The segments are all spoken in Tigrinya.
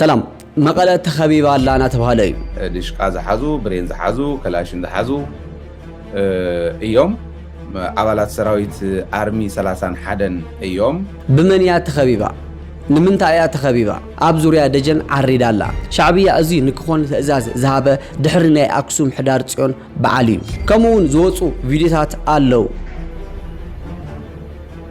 ሰላም መቐለ ተኸቢባ ኣላ ናተብሃለ እዩ። ድሽቃ ዝሓዙ ብሬን ዝሓዙ ከላሽን ዝሓዙ እዮም። ኣባላት ሰራዊት ኣርሚ ሰላሳን ሓደን እዮም። ብመን እያ ተኸቢባ? ንምንታይ እያ ተኸቢባ? ኣብ ዙርያ ደጀን ዓሪዳ ኣላ። ሻዕብያ እዚ ንክኾን ትእዛዝ ዝሃበ ድሕሪ ናይ ኣክሱም ሕዳር ጽዮን በዓል እዩ። ከምኡ ውን ዝወጹ ቪድዮታት ኣለው።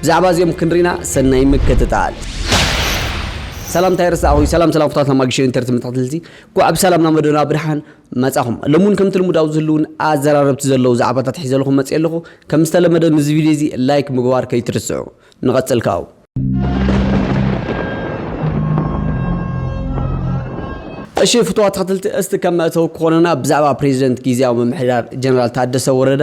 ብዛዕባ እዚኦም ክንሪና ሰናይ ምክትታል። ሰላም ታይ ረሳዕኹይ ሰላም ሰላም ፍታትና ማግሽን ኢንተርቲ መታሕትልቲ ኳዕ ብሰላም ናብ መደና ብርሓን መጻኹም ሎም ውን ከምቲ ልሙድ ኣብዚ ህልውን ኣዘራረብቲ ዘለዉ ዛዕባታት ሒዘልኹም መጽየ ኣለኹ ከም ዝተለመደ ንዚ ቪድዮ እዚ ላይክ ምግባር ከይትርስዑ ንቐጽል ካው እሺ ፍትዋ ተኸትልቲ እስቲ ከም መእተው ክኾነና ብዛዕባ ፕሬዚደንት ጊዜያዊ ምምሕዳር ጀነራል ታደሰ ወረደ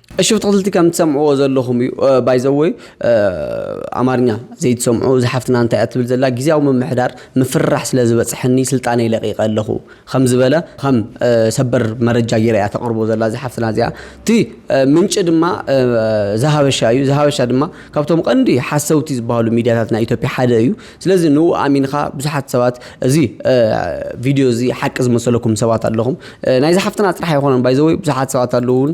እሺ ብትክልቲ ከም ትሰምዕዎ ዘለኹም እዩ ባይዘወይ ኣማርኛ ዘይትሰምዑ እዚ ሓፍትና እንታይ እያ ትብል ዘላ ግዜያዊ ምምሕዳር ምፍርራሕ ስለ ዝበፅሐኒ ስልጣነይ ለቂቀ ኣለኹ ከም ዝበለ ከም ሰበር መረጃ ጌራ እያ ተቕርቦ ዘላ እዚ ሓፍትና እዚኣ እቲ ምንጪ ድማ ዝሃበሻ እዩ ዝሃበሻ ድማ ካብቶም ቀንዲ ሓሰውቲ ዝበሃሉ ሚዲያታት ናይ ኢትዮጵያ ሓደ እዩ ስለዚ ንኡ ኣሚንኻ ብዙሓት ሰባት እዚ ቪድዮ እዚ ሓቂ ዝመሰለኩም ሰባት ኣለኹም ናይዚ ሓፍትና ጥራሕ ኣይኮነን ባይዘወይ ብዙሓት ሰባት ኣለውን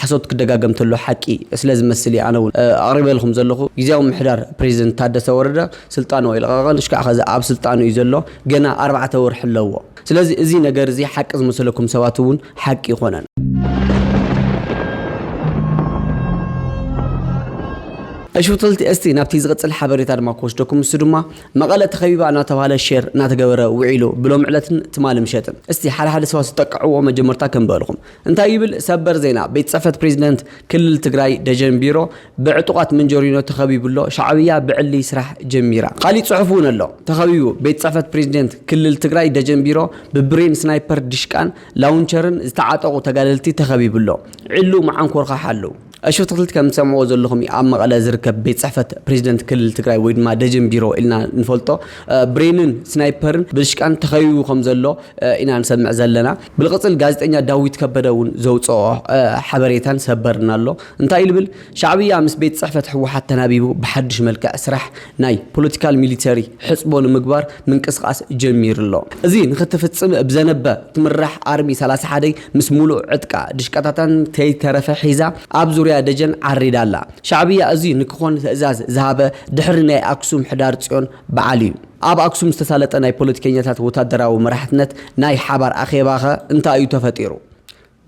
ሓሶት ክደጋገም ተሎ ሓቂ ስለ ዝመስል እየ ኣነ ውን ኣቅሪበልኩም ዘለኩ ግዝያዊ ምምሕዳር ፕረዚደንት ታደሰ ወረደ ስልጣኑ ኣይለቀቀን እሽካዕ ከዚ ኣብ ስልጣኑ እዩ ዘሎ ገና ኣርባዕተ ወርሒ ኣለዎ ስለዚ እዚ ነገር እዚ ሓቂ ዝመሰለኩም ሰባት ውን ሓቂ ኣይኮነን። እሺ ፍትልቲ እስቲ ናብቲ ዝቅጽል ሓበሬታ ድማ ክወስደኩም ንሱ ድማ መቐለ ተኸቢባ እናተባህለ ሼር እናተገበረ ውዒሉ ብሎሚ ዕለትን ትማሊ ምሸትን እስቲ ሓደ ሓደ ሰባት ዝጠቅዕዎ መጀመርታ ከንብበልኩም እንታይ ይብል ሰበር ዜና? ቤት ፅሕፈት ፕሬዚደንት ክልል ትግራይ ደጀን ቢሮ ብዕጡቓት መንጀሪኖ ተኸቢቡ ኣሎ፣ ሻዕብያ ብዕሊ ስራሕ ጀሚራ። ካሊእ ፅሑፍ እውን ኣሎ ተኸቢቡ ቤት ፅሕፈት ፕሬዚደንት ክልል ትግራይ ደጀን ቢሮ ብብሬን፣ ስናይፐር፣ ዲሽቃን ላውንቸርን ዝተዓጠቑ ተጋደልቲ ተኸቢቡ ኣሎ፣ ዕሊ መዓንኮርካ ሓልው። እሺ ትክልቲ ከም ትሰምዕዎ ዘለኹም እዩ ኣብ መቐለ ዝርከብ ቤት ፅሕፈት ፕሬዚደንት ክልል ትግራይ ወይ ድማ ደጀን ቢሮ ኢልና ንፈልጦ ብሬንን ስናይፐርን ብድሽቃን ተኸቢቡ ከም ዘሎ ኢና ንሰምዕ ዘለና ብልቕፅል ጋዜጠኛ ዳዊት ከበደ እውን ዘውፅኦ ሓበሬታን ሰበርና ኣሎ እንታይ ልብል ሻዕብያ ምስ ቤት ፅሕፈት ህወሓት ተናቢቡ ብሓዱሽ መልክዕ ስራሕ ናይ ፖለቲካል ሚሊተሪ ሕጽቦ ንምግባር ምንቅስቓስ ጀሚሩ ኣሎ። እዚ ንክትፍጽም ብዘነበ ትምራሕ ኣርሚ ሰላሳ ሓደ ምስ ሙሉእ ዕጥቃ ድሽቃታታን ከይተረፈ ሒዛ ኣብ ዙርያ ደጀን ዓሪዳ ኣላ። ሻዕብያ እዚ ንክኾን ትእዛዝ ዝሃበ ድሕሪ ናይ ኣክሱም ሕዳር ጽዮን በዓል እዩ። ኣብ ኣክሱም ዝተሳለጠ ናይ ፖለቲከኛታት ወታደራዊ መራሕትነት ናይ ሓባር ኣኼባኸ እንታይ እዩ ተፈጢሩ?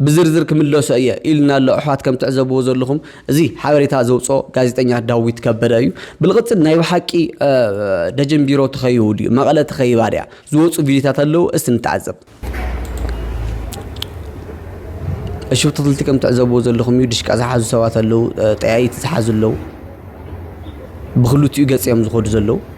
ብዝርዝር ክምለሶ እየ ኢሉና ኣሎ ኣሕዋት ከም ትዕዘብዎ ዘለኹም እዚ ሓበሬታ ዘውፅኦ ጋዜጠኛ ዳዊት ከበደ እዩ ብልቕፅል ናይ ብሓቂ ደጀን ቢሮ ተኸይቡ ድዩ መቐለ ተኸይባ ድያ ዝወፁ ቪዲዮታት ኣለዉ እስቲ ንተዓዘብ ሽብቲ ክልቲ ከም ትዕዘብዎ ዘለኹም እዩ ድሽቃ ዝሓዙ ሰባት ኣለዉ ጠያይቲ ዝሓዙ ኣለዉ ብክልቲኡ ገፅ እዮም ዝኸዱ ዘለዉ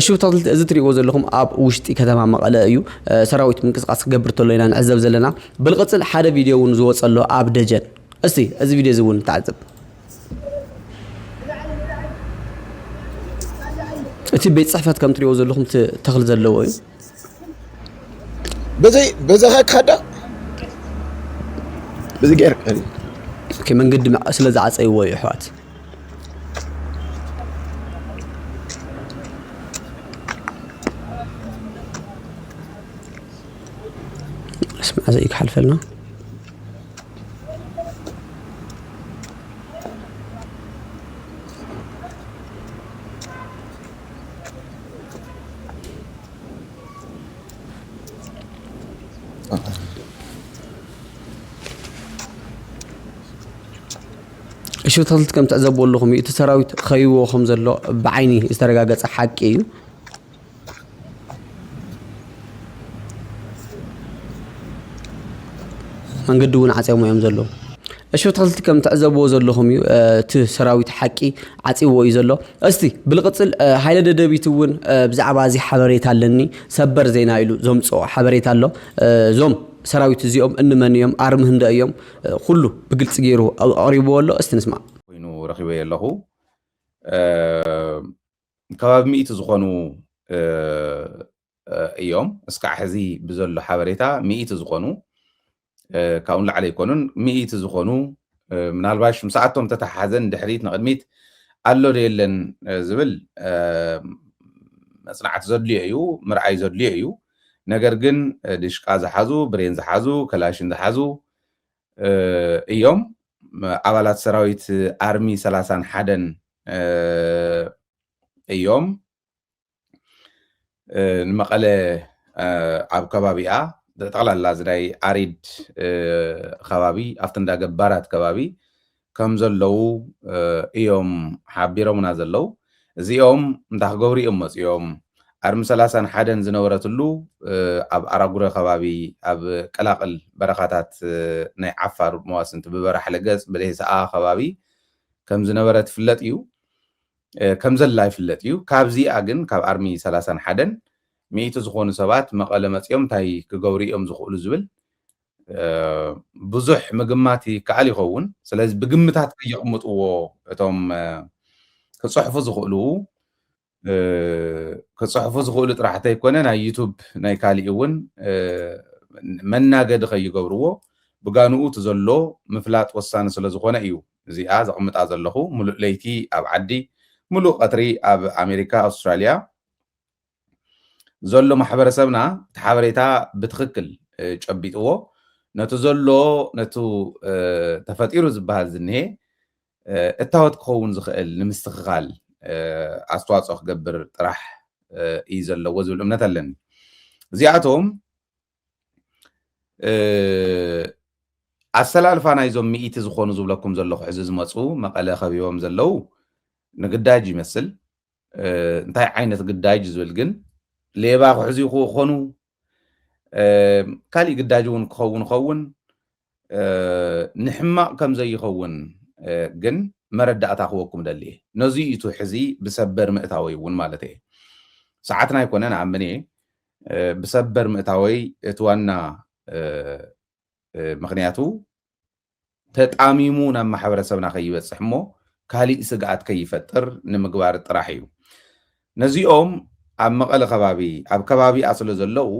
እሺ ተክልቲ እዚ ትሪእዎ ዘለኹም ኣብ ውሽጢ ከተማ መቐለ እዩ ሰራዊት ምንቅስቃስ ክገብር ተሎ ኢና ንዕዘብ ዘለና ብልቕፅል ሓደ ቪድዮ እውን ዝወፀሎ ኣብ ደጀን እስቲ እዚ ቪድዮ እዚ እውን ተዓዘብ እቲ ቤት ፅሕፈት ከም ትሪእዎ ዘለኹም እቲ ተኽሊ ዘለዎ እዩ። በዘይ በዛኻ ክኸዳ በዚ ገይር መንገዲ ስለ ዝዓፀይዎ እዩ ኣሕዋት ስማዕ ዘይክሓልፈልና እሺ ተኽልቲ ከም ትዕዘብዎ ኣለኹም እዩ እቲ ሰራዊት ኸይዎ ከም ዘሎ ብዓይኒ ዝተረጋገፀ ሓቂ እዩ። መንገዲ እውን ዓፅዮሞ እዮም ዘለዉ። እሺ ተኸልቲ ከም ትዕዘብዎ ዘለኹም እዩ እቲ ሰራዊት ሓቂ ዓፅዎ እዩ ዘሎ። እስቲ ብልቕፅል ሃይለ ደደቢት እውን ብዛዕባ እዚ ሓበሬታ ኣለኒ ሰበር ዜና ኢሉ ዘምፅኦ ሓበሬታ ኣሎ። እዞም ሰራዊት እዚኦም እንመን እዮም ኣርሚ ህንደ እዮም ኩሉ ብግልፂ ገይሩ ኣቕሪብዎ ኣሎ። እስቲ ንስማዕ። ኮይኑ ረኺበዮ ኣለኹ። ከባቢ ሚእቲ ዝኾኑ እዮም እስካዕ ሕዚ ብዘሎ ሓበሬታ ሚእቲ ዝኾኑ ካብኡ ንላዕሊ ኣይኮኑን ሚእቲ ዝኾኑ ምናልባሽ ምስኣቶም ተተሓሓዘን ድሕሪት ንቕድሚት ኣሎ ዶ የለን ዝብል መፅናዕቲ ዘድልዮ እዩ ምርኣይ ዘድልዮ እዩ ነገር ግን ድሽቃ ዝሓዙ ብሬን ዝሓዙ ከላሽን ዝሓዙ እዮም። ኣባላት ሰራዊት ኣርሚ ሰላሳን ሓደን እዮም። ንመቐለ ኣብ ከባቢኣ ጠቕላላ እዚ ናይ ኣሪድ ከባቢ ኣብቲ እንዳ ገባራት ከባቢ ከም ዘለዉ እዮም ሓቢሮምና ዘለዉ። እዚኦም እንታይ ክገብሩ እዮም መጺኦም? ኣርሚ ሰላሳን ሓደን ዝነበረትሉ ኣብ ኣራጉረ ከባቢ ኣብ ቀላቅል በረኻታት ናይ ዓፋር መዋስንቲ ብበራሕለ ገጽ ብደሄሰኣ ከባቢ ከም ዝነበረት ይፍለጥ እዩ። ከም ዘላ ይፍለጥ እዩ። ካብዚኣ ግን ካብ ኣርሚ ሰላሳን ሓደን ሚእቲ ዝኾኑ ሰባት መቐለ መጺኦም እንታይ ክገብሩ እዮም ዝኽእሉ ዝብል ብዙሕ ምግማት ይከኣል ይኸውን ስለዚ ብግምታት ከየቕምጥዎ እቶም ክጽሕፉ ዝኽእሉ ክጽሕፉ ዝኽእሉ ጥራሕ እንተይኮነ ናይ ዩቱብ ናይ ካሊእ እውን መናገዲ ከይገብርዎ ብጋንኡ እቲ ዘሎ ምፍላጥ ወሳኒ ስለ ዝኾነ እዩ እዚኣ ዘቕምጣ ዘለኹ ምሉእ ለይቲ ኣብ ዓዲ ምሉእ ቀትሪ ኣብ ኣሜሪካ ኣውስትራልያ ዘሎ ማሕበረሰብና እቲ ሓበሬታ ብትኽክል ጨቢጥዎ ነቲ ዘሎ ነቲ ተፈጢሩ ዝበሃል ዝኒሄ እታወት ክኸውን ዝኽእል ንምስትኽኻል ኣስተዋፅኦ ክገብር ጥራሕ እዩ ዘለዎ ዝብል እምነት ኣለኒ እዚኣቶም ኣሰላልፋ ናይዞም ሚእቲ ዝኾኑ ዝብለኩም ዘለኹ ሕዚ ዝመፁ መቐለ ከቢቦም ዘለው ንግዳጅ ይመስል እንታይ ዓይነት ግዳጅ ዝብል ግን ሌባ ክሕዙ ይኾኑ ካሊእ ግዳጅ እውን ክኸውን ይኸውን ንሕማቕ ከም ዘይኸውን ግን መረዳእታ ክወኩም ደሊ እየ ነዚ እዩ እቲ ሕዚ ብሰበር ምእታወይ እውን ማለት እየ ሰዓትና ኣይኮነን ኣምን እየ ብሰበር ምእታወይ እቲ ዋና ምክንያቱ ተጣሚሙ ናብ ማሕበረሰብና ከይበፅሕ እሞ ካሊእ ስግኣት ከይፈጥር ንምግባር ጥራሕ እዩ። ነዚኦም ኣብ መቐለ ከባቢ ኣብ ከባቢኣ ስለዘለው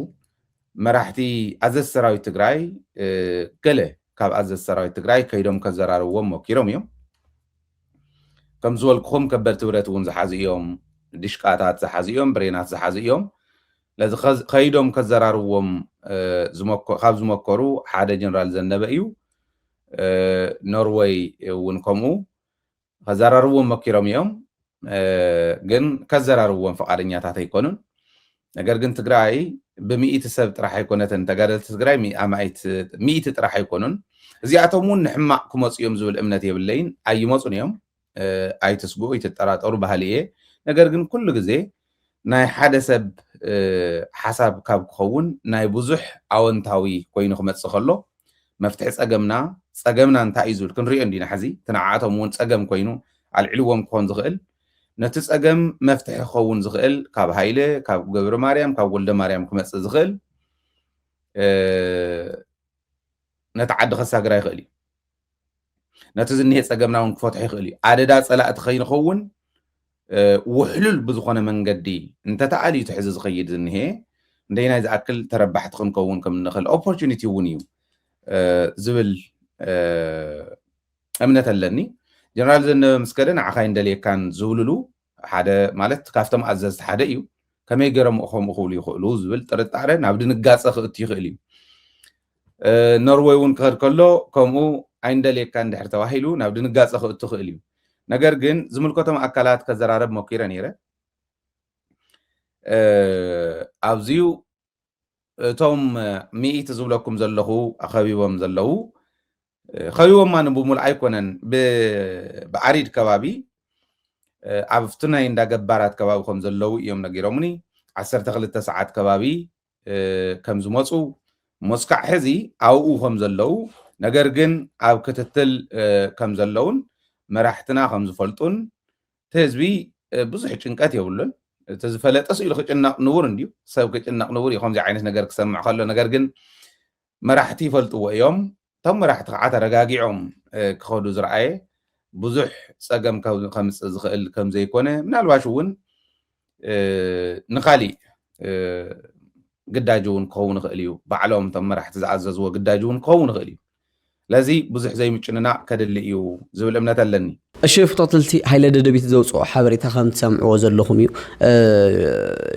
መራሕቲ ኣዘዝቲ ሰራዊት ትግራይ ገለ ካብ ኣዘዝቲ ሰራዊት ትግራይ ከይዶም ከዘራርብዎም ሞኪሮም እዮም። ከም ዝበልኩኹም ከበድቲ ብረት እውን ዝሓዙ እዮም፣ ድሽቃታት ዝሓዙ እዮም፣ ብሬናት ዝሓዙ እዮም። ነዚ ከይዶም ከዘራርብዎም ካብ ዝመከሩ ሓደ ጀነራል ዘነበ እዩ። ኖርወይ እውን ከምኡ ከዘራርብዎም መኪሮም እዮም። ግን ከዘራርብዎም ፈቃደኛታት ኣይኮኑን። ነገር ግን ትግራይ ብሚኢቲ ሰብ ጥራሕ ኣይኮነትን ተጋደልቲ ትግራይ ኣማኢት ሚኢቲ ጥራሕ ኣይኮኑን። እዚኣቶም እውን ንሕማቅ ክመፁ እዮም ዝብል እምነት የብለይን ኣይመፁን እዮም። ኣይትስግኡ ኣይትጠራጠሩ በሃሊ እየ ነገር ግን ኩሉ ግዜ ናይ ሓደ ሰብ ሓሳብ ካብ ክኸውን ናይ ብዙሕ ኣወንታዊ ኮይኑ ክመጽእ ከሎ መፍትሒ ጸገምና ጸገምና እንታይ እዩ ዝብል ክንሪኦ እንዲና ሕዚ እቲ ንዓኣቶም እውን ጸገም ኮይኑ ኣልዕልዎም ክኾን ዝኽእል ነቲ ጸገም መፍትሒ ክኸውን ዝኽእል ካብ ሃይለ ካብ ገብረ ማርያም ካብ ወልደ ማርያም ክመጽእ ዝኽእል ነቲ ዓዲ ከሳግራ ይኽእል እዩ ነቲ ዝኒሀ ፀገምና እውን ክፈትሖ ይኽእል እዩ ኣደዳ ፀላእቲ ከይንኸውን ውሕሉል ብዝኾነ መንገዲ እንተተኣል እዩ ትሕዚ ዝኸይድ ዝኒሀ እንደይናይ ዝኣክል ተረባሕቲ ክንከውን ከም እንኽእል ኦፖርቹኒቲ እውን እዩ ዝብል እምነት ኣለኒ ጀነራል ዘነበ ምስከደ ንዓኻ ይንደልየካን ዝብልሉ ሓደ ማለት ካብቶም ኣዘዝቲ ሓደ እዩ። ከመይ ገይሮም ከምኡ ክብሉ ይኽእሉ ዝብል ጥርጣረ ናብ ድንጋፀ ክእቱ ይኽእል እዩ። ኖርወይ እውን ክኸድ ከሎ ከምኡ ኣይንደልየካ እንድሕር ተባሂሉ ናብ ድንጋፀ ክእቱ ይኽእል እዩ። ነገር ግን ዝምልከቶም ኣካላት ከዘራረብ ሞኪረ ነይረ ኣብዚዩ እቶም ሚኢቲ ዝብለኩም ዘለኹ ኣኸቢቦም ዘለዉ ከቢቦማ ንብሙሉ ኣይኮነን ብዓሪድ ከባቢ ኣብቲ ናይ እንዳ ገባራት ከባቢ ከም ዘለዉ እዮም ነጊሮምኒ ዓሰርተ ክልተ ሰዓት ከባቢ ከም ዝመፁ ሞስካዕ ሕዚ ኣብኡ ከም ዘለዉ ነገር ግን ኣብ ክትትል ከም ዘለዉን መራሕትና ከም ዝፈልጡን እቲ ህዝቢ ብዙሕ ጭንቀት የብሉን እቲ ዝፈለጠ ስኢሉ ክጭነቕ ንቡር እንድዩ ሰብ ክጭነቕ ንቡር እዩ ከምዚ ዓይነት ነገር ክሰምዕ ከሎ ነገር ግን መራሕቲ ይፈልጥዎ እዮም እቶም መራሕቲ ከዓ ተረጋጊዖም ክኸዱ ዝረኣየ ብዙሕ ፀገም ከምፅእ ዝኽእል ከምዘይኮነ ምናልባሽ እውን ንካሊእ ግዳጅ እውን ክኸውን ይኽእል እዩ ባዕሎም እቶም መራሕቲ ዝኣዘዝዎ ግዳጅ እውን ክኸውን ይኽእል እዩ ስለዚ ብዙሕ ዘይምጭንናቅ ከድሊ እዩ ዝብል እምነት ኣለኒ እሺ ፍቶትልቲ ሃይለ ደደቢት ዘውጽኦ ሓበሬታ ከም ትሰምዕዎ ዘለኹም እዩ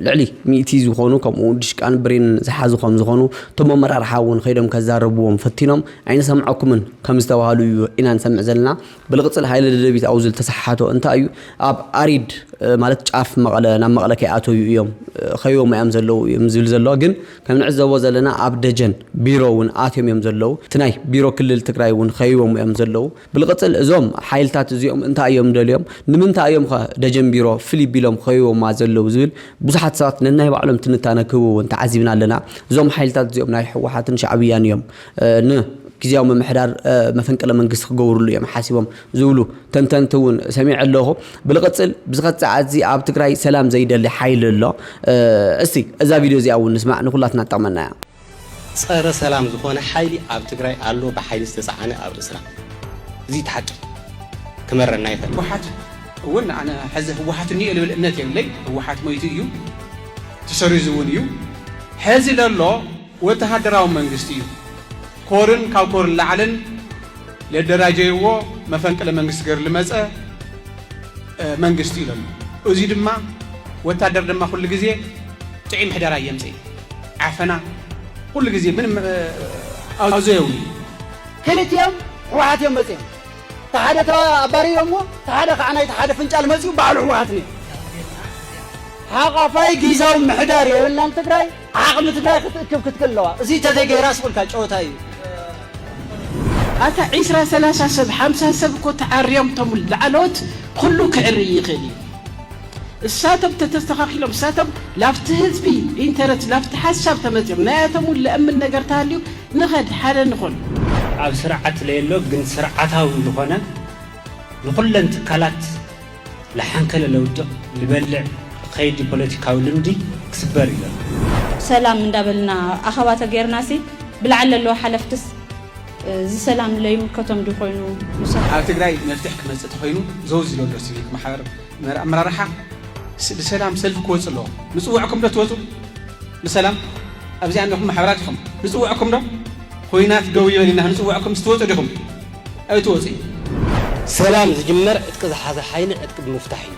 ልዕሊ ሚእቲ ዝኾኑ ከምኡ ድሽቃን ብሬን ዝሓዙ ከም ዝኾኑ እቶም ኣመራርሓ እውን ከይዶም ከዛረብዎም ፈቲኖም ኣይንሰምዐኩምን ከም ዝተባሃሉ እዩ ኢና ንሰምዕ ዘለና ብልቕጽል ሃይለ ደደቢት ኣብኡ ዝተሰሓሓቶ እንታይ እዩ ኣብ ኣሪድ ማለት ጫፍ መቐለ ናብ መቐለ ከይኣተዩ እዮም ከይቦም እዮም ዘለዉ እዮም ዝብል ዘሎ ግን ከም ንዕዘቦ ዘለና ኣብ ደጀን ቢሮ እውን ኣትዮም እዮም ዘለዉ እቲ ናይ ቢሮ ክልል ትግራይ እውን ከይቦም እዮም ዘለዉ ብልቕፅል እዞም ሓይልታት እዚኦም እንታይ እዮም ደልዮም? ንምንታይ እዮም ኸ ደጀን ቢሮ ፍልይ ቢሎም ኸቢቦማ ዘለዉ ዝብል ብዙሓት ሰባት ነናይ ባዕሎም ትንታነ ክህቡ እውን ተዓዚብና ኣለና። እዞም ሓይልታት እዚኦም ናይ ህወሓትን ሻዕብያን እዮም ን ግዝያዊ ምምሕዳር መፈንቅለ መንግስቲ ክገብርሉ እዮም ሓሲቦም ዝብሉ ተንተንቲ እውን ሰሚዐ ኣለኹ። ብልቕፅል ብዝኸት ሰዓት እዚ ኣብ ትግራይ ሰላም ዘይደሊ ሓይሊ ኣሎ። እስቲ እዛ ቪድዮ እዚኣ እውን ንስማዕ ንኹላትና ትጠቕመና እያ። ጸረ ሰላም ዝኾነ ሓይሊ ኣብ ትግራይ ኣሎ ብሓይሊ ዝተጻዓነ ኣብ ርእስና እዚ እቲ ሓቂ ክመረና ይኽእል። ህወሓት እውን ኣነ ሐዚ ህወሓት እኒኦ ልብል እምነት የብለይ ህወሓት ሞይቱ እዩ ትሰሪዙ እውን እዩ ሐዚ ለሎ ወተሃደራዊ መንግስቲ እዩ ኮርን ካብ ኮርን ላዕልን ለደራጀይዎ መፈንቅለ መንግስቲ ገሩ ልመፀ መንግስቲ እዩ ለሎ እዙይ ድማ ወታደር ድማ ኩሉ ግዜ ጥዒ ምሕደራ የምፅእ እዩ። ዓፈና ኩሉ ግዜ ምንም ኣዘየው ክልቲኦም ሕወሓት እዮም መፅኦም እቲ ሓደ ኣባሪሮሞ እቲ ሓደ ከዓ ናይቲ ሓደ ፍንጫል መፅኡ ባዕሉ ሕወሓት ነይሩ ሓቋፋይ ጊዛዊ ምሕዳር የብልናን ትግራይ ዓቕሚ ትግራይ ክትእክብ ክትክል ኣለዋ እዚ ተዘይገይራ ስቑልካ ጨወታ እዩ ኣታ ዒስራ ሰላሳ ሰብ ሓምሳ ሰብ እኮ ተዓርዮም እቶም ላዕለዎት ኩሉ ክዕርይ ይኽእል እዩ እሳቶም ተተስተኻኺሎም እሳቶም ላብቲ ህዝቢ ኢንተረስት ላብቲ ሓሳብ ተመጺኦም ናያቶም ውን ለእምን ነገር ተሃልዩ ንኸድ ሓደ ንኹን። ኣብ ስርዓት ለየሎ ግን ስርዓታዊ ልኾነ ንኹለን ትካላት ልሓንከለ ለውድቕ ልበልዕ ኸይዲ ፖለቲካዊ ልምዲ ክስበር እዩ ለሎ። ሰላም እንዳበልና ኣኸባ ተገይርናሲ ብላዕሊ ለለዉ ሓለፍትስ ዝሰላም ለይምከቶም ድዩ ኮይኑ ምሳኹም? ኣብ ትግራይ መፍትሕ ክመፅእ ተኾይኑ ዘውዚ ለሎ ሲቪክ ማሕበር፣ መራ ኣመራርሓ ብሰላም ሰልፊ ክወጽእ ኣለዎ ንጽውዕኩም ዶ ትወጹ ብሰላም ኣብዚኣ እንዲኹም ማሕበራት ኢኹም ንጽውዕኩም ዶ ኩናት ደው ይበል ኢና ንጽውዕኩም ስትወጹ ዲኹም ኣይትወጹ እዩ ሰላም ዝጅመር ዕጥቂ ዝሓዘ ሓይሊ ዕጥቂ ብምፍታሕ እዩ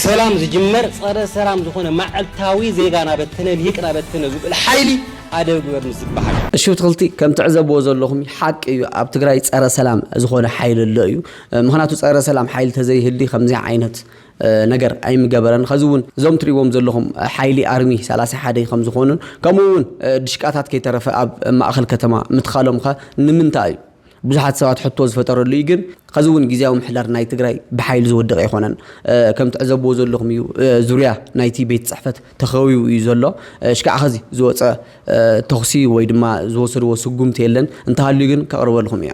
ሰላም ዝጅመር ጸረ ሰላም ዝኾነ ማዕልታዊ ዜጋ ናበተነ ሊቅ ናበተነ ዝብል ሓይሊ ኣደብ ግበር ምስ ዝበሃል እዩ። እሺ ብትክልቲ ከም ትዕዘብዎ ዘለኹም ሓቂ እዩ ኣብ ትግራይ ፀረ ሰላም ዝኾነ ሓይሊ ኣሎ እዩ ምኽንያቱ ጸረ ሰላም ሓይሊ ተዘይህሊ ከምዚ ዓይነት ነገር ኣይምገበረን ኸዚ እውን እዞም ትሪእዎም ዘለኹም ሓይሊ ኣርሚ ሰላሳ ሓደ ከም ዝኾኑን ከምኡ እውን ድሽቃታት ከይተረፈ ኣብ ማእኸል ከተማ ምትካሎም ኸ ንምንታይ እዩ ብዙሓት ሰባት ሕቶ ዝፈጠረሉ እዩ ግን ኸዚ እውን ግዜያዊ ምሕዳር ናይ ትግራይ ብሓይሊ ዝወደቀ ኣይኮነን ከም ትዕዘብዎ ዘለኹም እዩ ዙርያ ናይቲ ቤት ፅሕፈት ተኸቢቡ እዩ ዘሎ ሽካዕ ኸዚ ዝወፀ ተኹሲ ወይ ድማ ዝወሰድዎ ስጉምቲ የለን እንተሃልዩ ግን ከቕርበልኹም እያ